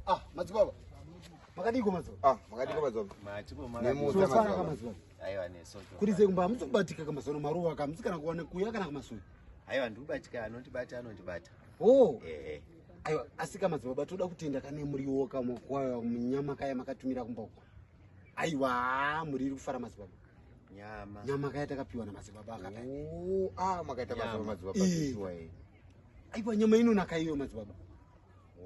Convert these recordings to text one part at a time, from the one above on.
Ah, madzibaba. Makadiko madzibaba. Ah, makadiko madzibaba. Machiko makadiko. Aiwa nesoto. Kuri zve kumba muzobatika kama zono maruwa kama musikana kuwana kuya kana kama sui. Aiwa ndikubatika anondibata anondibata. Oh. Eh eh. Aiwa asika madzibaba toda kutenda kane muriwo kama kwayo munyama kaya makatumira kumba uko. aiwa muriri kufara madzibaba nyama nyama kaya takapiwa namadzibaba akata oh, ah, makaita basa madzibaba aiwa nyama inonaka iyo madzibaba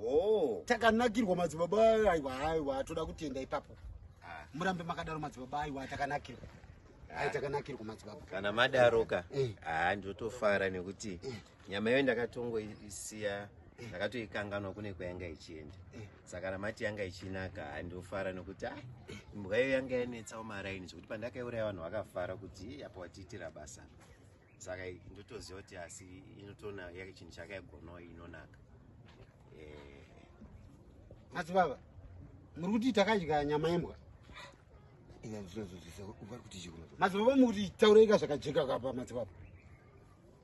oh. takanakirwa madzibaba aiwa aiwa toda kutenda ipapo ah. murambe makadaro madzibaba aiwa takanakirwa aitakanakirwa madzibaba kana madaroka eh. haa ndotofara nekuti eh. nyama iyo ndakatongoisiya eh. ndakatoikanganwa kune kwayanga ichienda saka namati yanga ichinaka handofara nokuti a ah, imbwa iyo yanga yanetsawo maraini zvekuti pandakaiuraya vanhu vakafara kuti apa watiitira basa saka ndotoziva kuti asi inotoona yake chinhu chakaigonawo inonaka eh. asi baba muri kuti takadya nyama yembwa inazvinozozisavari kuti chikuno madzibaba muri kuti taureika zvakajeka kapa madzibaba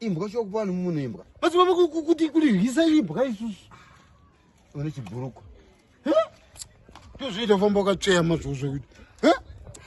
imbwa sho kupa vanhu munhu imbwa basi mama kuti kuriryisa imbwa isusu une chibhurukwa tozviita famba wakatsveyama zvozvo kuti